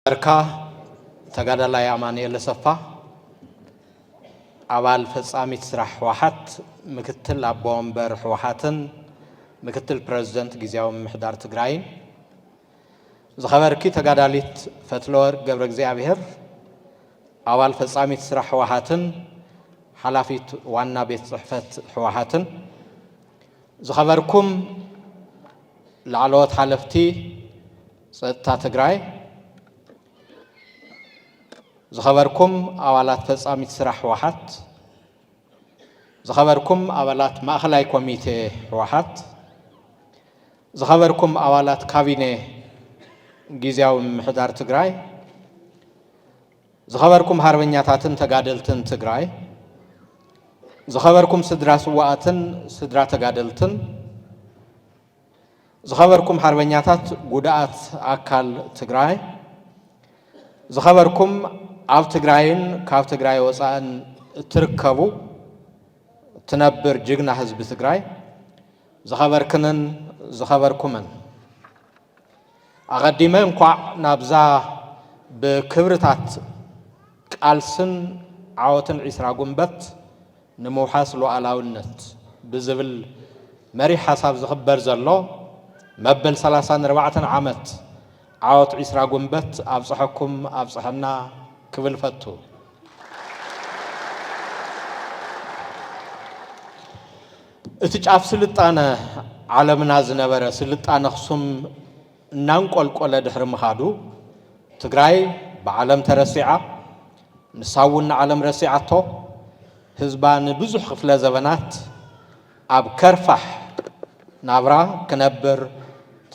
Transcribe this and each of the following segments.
ኣርካ ተጋዳላይ ኣማንኤል ኣሰፋ ኣባል ፈጻሚት ስራሕ ህወሓት ምክትል ኣቦ ወንበር ህወሓትን ምክትል ፕረዚደንት ግዜያዊ ምምሕዳር ትግራይን ዝኸበርኪ ተጋዳሊት ፈትለወርቅ ገብረእግዚኣብሄር፣ ኣባል ፈጻሚት ስራሕ ህወሓትን ሓላፊት ዋና ቤት ጽሕፈት ህወሓትን፣ ዝኸበርኩም ላዕለዎት ሓለፍቲ ጸጥታ ትግራይ፣ ዝኸበርኩም ኣባላት ፈጻሚት ስራሕ ህወሓት፣ ዝኸበርኩም ኣባላት ማእኸላይ ኮሚቴ ህወሓት፣ ዝኸበርኩም ኣባላት ካቢነ ጊዚያዊ ምምሕዳር ትግራይ፣ ዝኸበርኩም ሃርበኛታትን ተጋደልትን ትግራይ፣ ዝኸበርኩም ስድራ ስዋኣትን ስድራ ተጋደልትን፣ ዝኸበርኩም ሓርበኛታት ጉዳኣት ኣካል ትግራይ፣ ዝኸበርኩም ኣብ ትግራይን ካብ ትግራይ ወፃእን እትርከቡ እትነብር ጅግና ህዝቢ ትግራይ፣ ዝኸበርክንን ዝኸበርኩምን፣ ኣቐዲመ እንኳዕ ናብዛ ብክብርታት ቃልስን ዓወትን ዒስራ ጉንበት ንምውሓስ ሉኣላዊነት ብዝብል መሪሕ ሓሳብ ዝኽበር ዘሎ መበል ሰላሳን ኣርባዕተን ዓመት ዓወት ዒስራ ጉንበት ኣብፀሐኩም ኣብፀሐና ክብል እፈቱ። እቲ ጫፍ ስልጣነ ዓለምና ዝነበረ ስልጣነ ኣኽሱም እናንቆልቆለ ድሕሪ ምኻዱ ትግራይ ብዓለም ተረሲዓ፣ ንሳ እውን ንዓለም ረሲዓቶ፣ ህዝባ ንብዙሕ ክፍለ ዘበናት ኣብ ከርፋሕ ናብራ ክነብር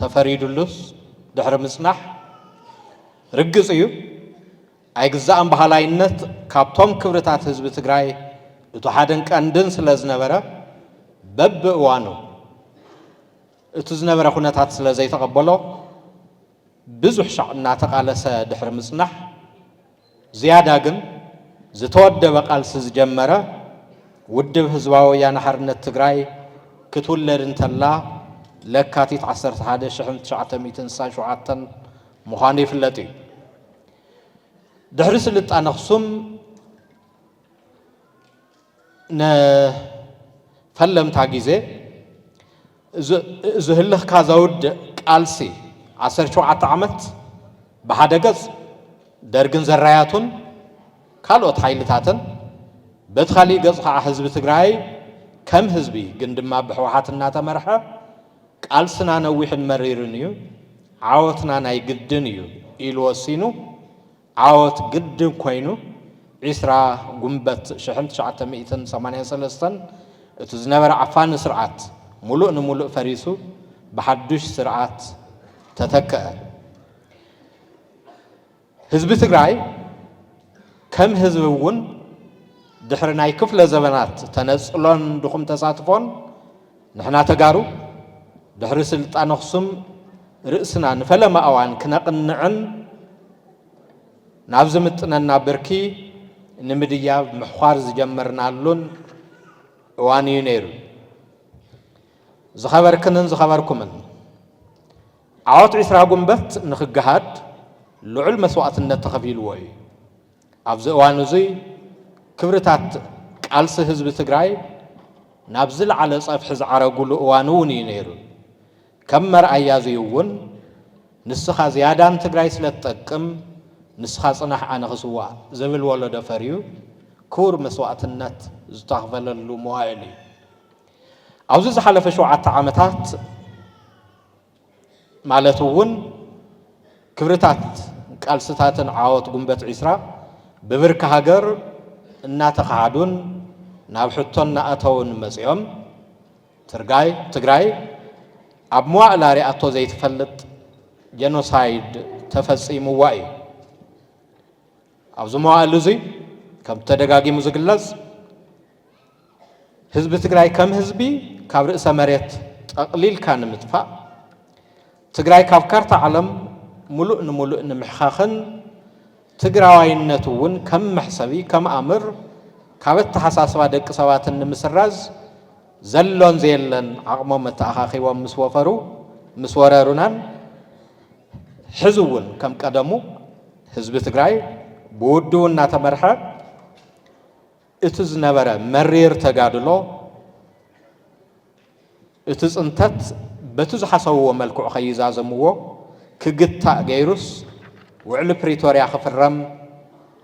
ተፈሪድሉስ ድሕሪ ምፅናሕ ርግፅ እዩ። ኣይግዛእን በሃላይነት ካብቶም ክብርታት ህዝቢ ትግራይ እቱ ሓደን ቀንድን ስለዝነበረ በቢ እዋኑ እቱ ዝነበረ ኩነታት ስለዘይተቐበሎ ብዙሕ ሻዕ እናተቓለሰ ድሕሪ ምፅናሕ ዝያዳ ግን ዝተወደበ ቃልሲ ዝጀመረ ውድብ ህዝባዊ ወያነ ሓርነት ትግራይ ክትውለድ እንተላ ለካቲት ዓሰርተ ሓደ ሽሕን ትሽዓተ ሚእትን ስሳን ሸውዓተን ምዃኑ ይፍለጥ እዩ። ድሕሪ ስልጣነ ኣኽሱም ንፈለምታ ግዜ እዚ ህልኽካ ዘውድእ ቃልሲ ዓሰርተ ሸውዓተ ዓመት ብሓደ ገጽ ደርግን ዘራያቱን ካልኦት ሓይልታትን በቲ ካሊእ ገጽ ከዓ ህዝቢ ትግራይ ከም ህዝቢ ግን ድማ ብሕወሓት እናተመርሐ ቃልስና ነዊሕን መሪርን እዩ፣ ዓወትና ናይ ግድን እዩ ኢሉ ወሲኑ፣ ዓወት ግድን ኮይኑ ዕስራ ጉንበት ሽሕን ትሽዓተ ሚእትን ሰማንያን ሰለስተን እቲ ዝነበረ ዓፋኒ ስርዓት ሙሉእ ንሙሉእ ፈሪሱ ብሓዱሽ ስርዓት ተተከኣ። ህዝቢ ትግራይ ከም ህዝቢ እውን ድሕሪ ናይ ክፍለ ዘበናት ተነፅሎን ድኹም ተሳትፎን ንሕና ተጋሩ ድሕሪ ስልጣን ኣኽሱም ርእስና ንፈለማ እዋን ክነቕንዕን ናብ ዝምጥነና ብርኪ ንምድያብ ምሕዃር ዝጀመርናሉን እዋን እዩ ነይሩ። ዝኸበርክንን ዝኸበርኩምን ዓወት ዕስራ ጉንበት ንክገሃድ ልዑል መስዋእትነት ተኸፊልዎ እዩ። ኣብዚ እዋን እዙይ ክብርታት ቃልሲ ህዝቢ ትግራይ ናብ ዝለዓለ ፀፍሒ ዝዓረጉሉ እዋን እውን እዩ ነይሩ። ከም መርኣያ እዙይ እውን ንስኻ ዝያዳ ንትግራይ ስለትጠቅም ንስኻ ፅናሕ ኣነ ክስዋእ ዝብል ወለዶ ፈርዩ ክቡር መስዋእትነት ዝተኽፈለሉ መዋእል እዩ። ኣብዚ ዝሓለፈ ሸውዓተ ዓመታት ማለት እውን ክብርታት ቃልስታትን ዓወት ጉንበት ዒስራ ብብርኪ ሃገር እናተኸሓዱን ናብ ሕቶ እናኣተውን መፂኦም ትርጋይ ትግራይ ኣብ መዋእላ ሪኣቶ ዘይትፈልጥ ጀኖሳይድ ተፈፂሙዋ እዩ። ኣብዚ መዋእል እዙይ ከምቲ ተደጋጊሙ ዝግለፅ ህዝቢ ትግራይ ከም ህዝቢ ካብ ርእሰ መሬት ጠቕሊልካ ንምጥፋእ፣ ትግራይ ካብ ካርታ ዓለም ሙሉእ ንሙሉእ ንምሕኻኽን ትግራዋይነት እውን ከም መሕሰቢ፣ ከም ኣምር ካብ ኣተሓሳስባ ደቂ ሰባትን ንምስራዝ ዘሎን ዘየለን ዓቕሞም ኣተኣኻኺቦም ምስ ወፈሩ፣ ምስ ወረሩናን ሕዚ እውን ከም ቀደሙ ህዝቢ ትግራይ ብውድቡ እናተመርሐ፣ እቲ ዝነበረ መሪር ተጋድሎ እቲ ፅንተት በቲ ዝሓሰብዎ መልክዑ ከይዛዘምዎ ክግታእ ገይሩስ ውዕሊ ፕሪቶርያ ክፍረም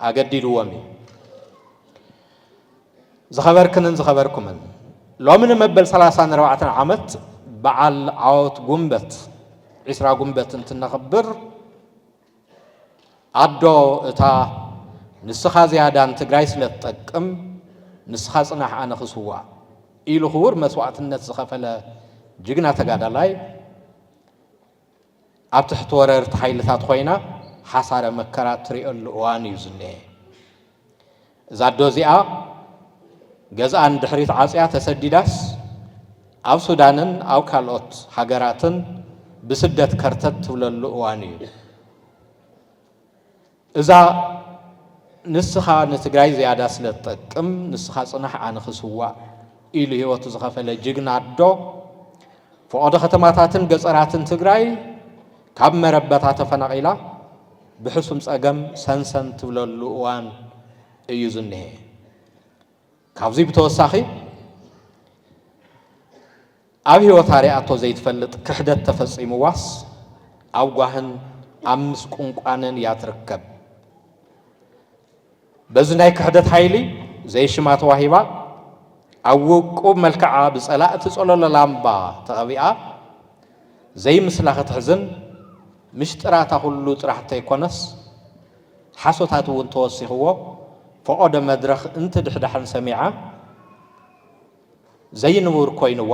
ኣገዲድዎም እዩ። ዝኸበርክንን ዝኸበርኩምን ሎሚ ንመበል 34 ዓመት በዓል ዓወት ጉንበት 20 ጉንበት እንትነኽብር ኣዶ እታ ንስኻ ዝያዳ ንትግራይ ስለ ትጠቅም ንስኻ ፅናሕ ኣነ ክስዋእ ኢሉ ክቡር መስዋእትነት ዝኸፈለ ጅግና ተጋዳላይ ኣብ ትሕቲ ወረርቲ ሓይልታት ኮይና ሓሳረ መከራ እትሪኦሉ እዋን እዩ ዝኒሀ። እዛ ኣዶ እዚኣ ገዝኣ ንድሕሪት ዓጽያ ተሰዲዳስ ኣብ ሱዳንን ኣብ ካልኦት ሃገራትን ብስደት ከርተት ትብለሉ እዋን እዩ። እዛ ንስኻ ንትግራይ ዝያዳ ስለ ትጠቅም ንስኻ ጽናሕ ኣነ ክስዋእ ኢሉ ህይወቱ ዝኸፈለ ጅግና ኣዶ ፈቐዶ ከተማታትን ገጸራትን ትግራይ ካብ መረበታ ተፈናቒላ ብሕሱም ፀገም ሰንሰን ትብለሉ እዋን እዩ ዝኒሀ። ካብዙይ ብተወሳኺ ኣብ ህይወታ ሪኣቶ ዘይትፈልጥ ክሕደት ተፈፂምዋስ ኣብ ጓህን ኣብ ምስቁንቋንን እያ ትርከብ። በዚ ናይ ክሕደት ሓይሊ ዘይሽማ ተዋሂባ ኣብ ውቁብ መልክዓ ብጸላእቲ ጸሎሎ ላምባ ተቐቢኣ ዘይምስላ ክትሕዝን ምሽጥራታ ኩሉ ጥራሕ እንተይኮነስ ሓሶታት እውን ተወሲኽዎ ፈቖዶ መድረኽ እንትድሕዳሕን ሰሚዓ ዘይንቡር ኮይንዋ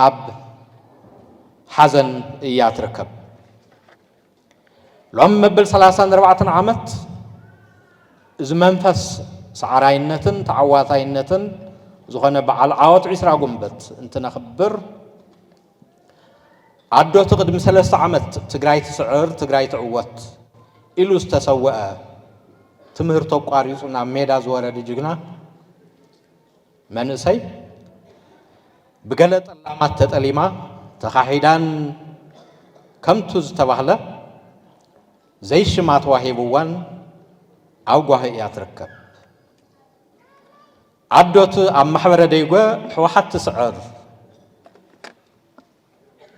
ኣብ ሓዘን እያ ትርከብ። ሎም መብል ሰላሳን ኣርባዕተን ዓመት እዚ መንፈስ ሰዓራይነትን ተዓዋታይነትን ዝኾነ በዓል ዓወት ዒስራ ጉንበት እንትነኽብር ኣዶቲ ቅድሚ ሰለስተ ዓመት ትግራይ ትስዕር ትግራይ ትዕወት ኢሉ ዝተሰወአ ትምህርቱ ኣቋሪፁ ናብ ሜዳ ዝወረደ ጅግና መንእሰይ ብገለ ጠላማት ተጠሊማ ተኻሒዳን ከምቱ ዝተባህለ ዘይሽማ ተዋሂብዋን ኣብ ጓሂ እያ ትርከብ። ዓዶት ኣብ ማሕበረ ደይጎ ሕወሓት ትስዕር።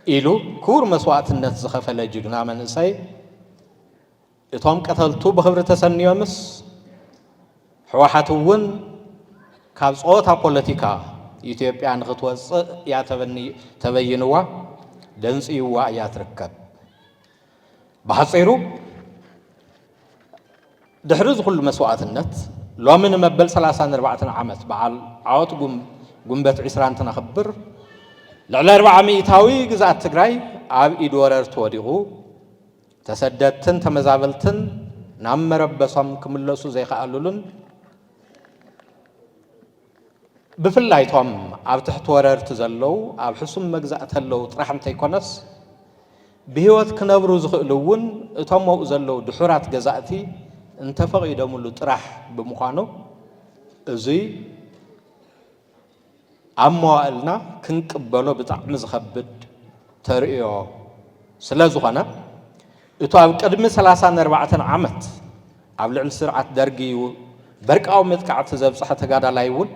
ኢሉ ክቡር መስዋእትነት ዝኸፈለ ጅግና መንእሰይ እቶም ቀተልቱ ብኽብሪ ተሰንዮምስ ሕወሓት እውን ካብ ጸወታ ፖለቲካ ኢትዮጵያ ንኽትወጽእ እያ ተበይንዋ ደንጽይዋ እያ ትርከብ። ብሓጺሩ ድሕሪ እዚ ኩሉ መስዋእትነት ሎሚ ንመበል ሰላሳን ኣርባዕተን ዓመት በዓል ዓወት ጉንበት ዒስራ እንትነኽብር ልዕሊ ኣርብዓ ሚእታዊ ግዝኣት ትግራይ ኣብ ኢድ ወረርቲ ወዲቑ ተሰደድትን ተመዛበልትን ናብ መረበሶም ክምለሱ ዘይከኣሉሉን ብፍላይ እቶም ኣብ ትሕቲ ወረርቲ ዘለዉ ኣብ ሕሱም መግዛእቲ ኣለዉ ጥራሕ እንተይኮነስ ብህይወት ክነብሩ ዝኽእሉ እውን እቶም ኣብኡ ዘለዉ ድሑራት ገዛእቲ እንተፈቒዶምሉ ጥራሕ ብምዃኑ እዙይ ኣብ መዋእልና ክንቅበሎ ብጣዕሚ ዝኸብድ ተርእዮ ስለዝኾነ እቱ ኣብ ቅድሚ ሰላሳን ኣርባዕተን ዓመት ኣብ ልዕሊ ስርዓት ደርጊ በርቃዊ መጥቃዕቲ ዘብፀሐ ተጋዳላይ እውን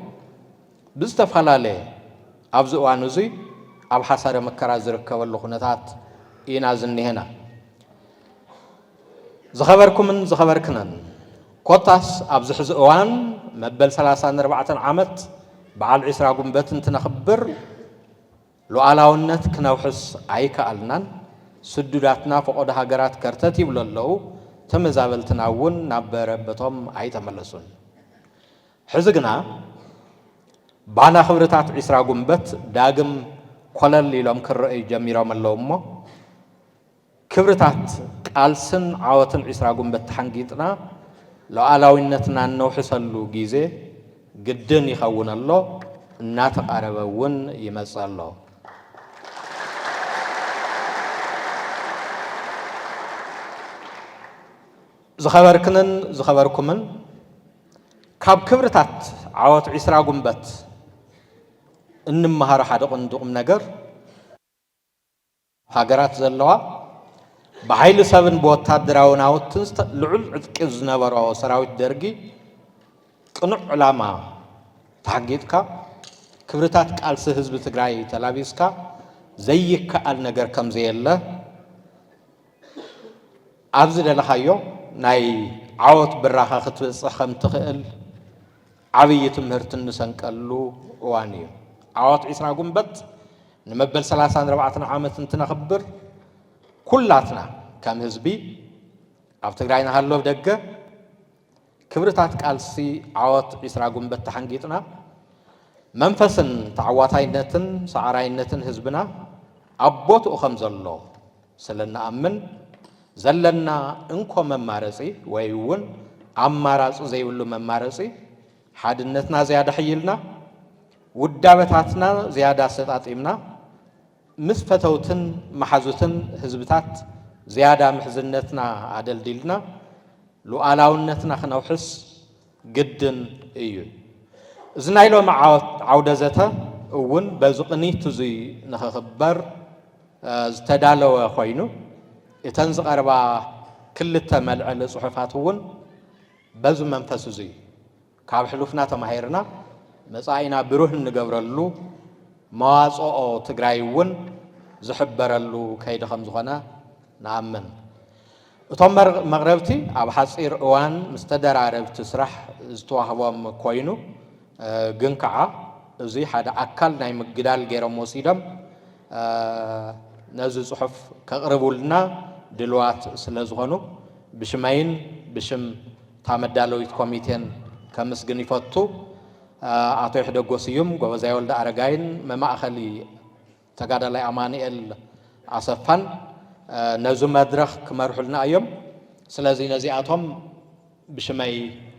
ብዝተፈላለየ ኣብዚ እዋን እዙይ ኣብ ሓሳረ መከራ ዝርከበሉ ኩነታት ኢና ዝኒሀና። ዝኸበርኩምን ዝኸበርክነን ኮታስ ኣብዚ ሕዚ እዋን መበል ሰላሳን ኣርባዕተን ዓመት በዓል ዒስራ ጉንበት እንትነኽብር ሉኣላውነት ክነውሕስ ኣይከኣልናን፣ ስዱዳትና ፈቖዶ ሃገራት ከርተት ይብሉ ኣለዉ፣ ተመዛበልትና እውን ናብ መረበቶም ኣይተመለሱን። ሕዚ ግና ባና ክብርታት ዒስራ ጉንበት ዳግም ኮለል ኢሎም ክረኣዩ ጀሚሮም ኣለዉ እሞ፣ ክብርታት ቃልስን ዓወትን ዕስራ ጉንበት ተሓንጊጥና ሉኣላዊነትና እነውሕሰሉ ጊዜ ግድን ይኸውን ኣሎ፣ እናተቓረበ እውን ይመፅእ ኣሎ። ዝኸበርክንን ዝኸበርኩምን ካብ ክብርታት ዓወት ዕስራ ጉንበት እንመሃሮ ሓደ ቕንዲ ቑም ነገር ሃገራት ዘለዋ ብሓይሊ ሰብን ብወታደራዊ ናውትን ልዑል ዕጥቂ ዝነበሮ ሰራዊት ደርጊ ቅኑዕ ዕላማ ተሓጊጥካ ክብርታት ቃልሲ ህዝቢ ትግራይ ተላቢስካ ዘይከኣል ነገር ከምዘየለ ኣብ ዝደለኻዮ ናይ ዓወት ብራኸ ክትበፅሕ ከምትኽእል ዓብዪ ትምህርቲ እንሰንቀሉ እዋን እዩ። ዓወት ዒስራ ጉንበት ንመበል ሰላሳን ኣርባዕተን ዓመት እንትነኽብር ኩላትና ከም ህዝቢ ኣብ ትግራይ ንሃሎ ኣብ ደገ ክብርታት ቃልሲ ዓወት ዒስራ ጉንበት ተሓንጊጥና መንፈስን ተዓዋታይነትን ሰዓራይነትን ህዝብና ኣብ ቦትኡ ከም ዘሎ ስለ እንኣምን ዘለና እንኮ መማረፂ ወይ እውን ኣማራፂ ዘይብሉ መማረፂ ሓድነትና ዝያዳ ኣሕይልና ውዳበታትና ዝያዳ ኣሰጣጢምና ምስ ፈተውትን መሓዙትን ህዝብታት ዝያዳ ምሕዝነትና ኣደልዲልና ሉኣላውነትና ክነውሕስ ግድን እዩ። እዚ ናይ ሎሚ ዓውደ ዘተ እውን በዚ ቅኒት እዙይ ንክኽበር ዝተዳለወ ኮይኑ እተን ዝቐርባ ክልተ መልዐሊ ፅሑፋት እውን በዚ መንፈስ እዙይ ካብ ሕሉፍና ተማሂርና መፃኢና ብሩህ እንገብረሉ መዋፅኦ ትግራይ እውን ዝሕበረሉ ከይዲ ከምዝኾነ ንኣምን። እቶም መቕረብቲ ኣብ ሓጺር እዋን ምስ ተደራረብቲ ስራሕ ዝተዋህቦም ኮይኑ ግን ከኣ እዚ ሓደ ኣካል ናይ ምግዳል ገይሮም ወሲዶም ነዚ ጽሑፍ ከቕርቡልና ድልዋት ስለ ዝኾኑ ብሽመይን ብሽም እታ መዳለዊት ኮሚቴን ከምስግን ይፈቱ። ኣቶ ይሕደጎ ስዩም፣ ጎበዛይ ወልደኣረጋይን መማእኸሊ ተጋዳላይ ኣማኒኤል ኣሰፋን ነዚ መድረኽ ክመርሑልና እዮም። ስለዚ ነዚኣቶም ብሽመይ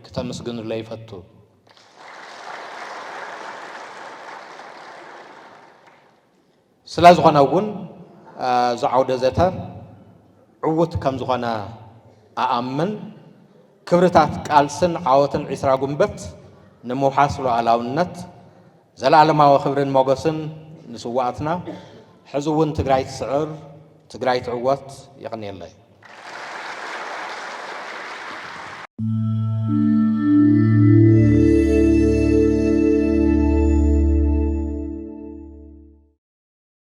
ክተምስግኑለይ ይፈቱ። ስለ ዝኾነ እውን እዚ ዓውደ ዘተ ዕውት ከም ዝኾነ ኣኣምን። ክብርታት ቃልስን ዓወትን ዒስራ ጉንበት ንምውሓስ ሉኣላውነት ዘልኣለማዊ ክብርን ሞገስን ንስዋኣትና ሕዚ እውን ትግራይ ትስዕር ትግራይ ትዕወት የቅንየለይ።